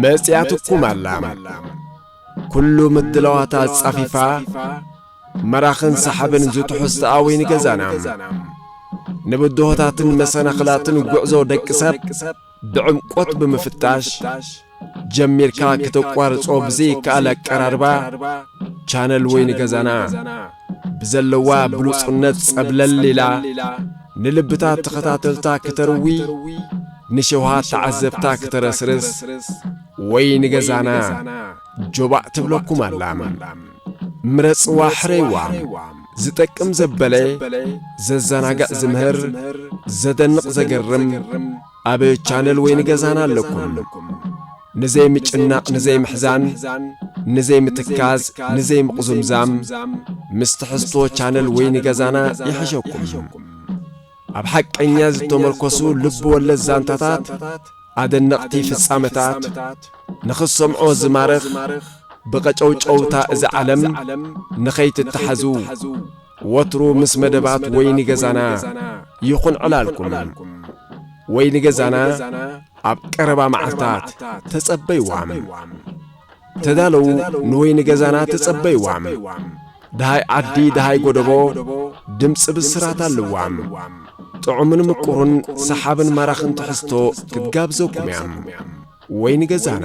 መጺኣ ትቁም ኣላ ኩሉ ምድላዋት ኣጻፊፋ መራኽን ሰሓብን ዝትሑዝ ተኣዊን ገዛና ንብድሆታትን መሰናኽላትን ጉዕዞ ደቂ ሰብ ብዕምቆት ብምፍታሽ ጀሚርካ ክተቋርጾ ብዘይከኣል ኣቀራርባ ቻነል ወይ ንገዛና ብዘለዋ ብሉጽነት ጸብለል ኢላ ንልብታት ተኸታተልታ ክተርዊ ንሸውሃት ተዓዘብታ ክተረስርስ ወይ ንገዛና ጆባእ ትብለኩም ኣላ ምረጽዋ ሕረይዋ ዝጠቅም ዘበለ ዘዘናግዕ ዝምህር ዘደንቕ ዘገርም ኣብ ቻነል ወይ ንገዛና ኣለኩም ንዘይ ምጭናቕ ንዘይ ምሕዛን ንዘይ ምትካዝ ንዘይ ምቕዙምዛም ምስ ትሕዝቶ ቻነል ወይ ንገዛና ይሕሸኩም ኣብ ሓቀኛ ዝተመርኮሱ ልብ ወለድ ዛንታታት ኣደነቕቲ ፍጻመታት ንኽትሰምዖ ዝማርኽ ብቐጨውጨውታ እዚ ዓለም ንኸይትተሓዙ ወትሩ ምስ መደባት ወይኒ ገዛና ይኹን ዕላልኩም ወይኒ ገዛና ኣብ ቀረባ መዓልታት ተጸበይዋም ተዳለዉ ንወይኒ ገዛና ተጸበይዋ ደሃይ ዓዲ ደሃይ ጎደቦ ድምጺ ብስራት ኣለዋ ጥዑምን ምቁሩን ሰሓብን ማራኽን ትሕዝቶ ክትጋብዘኩም እያ ወይኒ ገዛና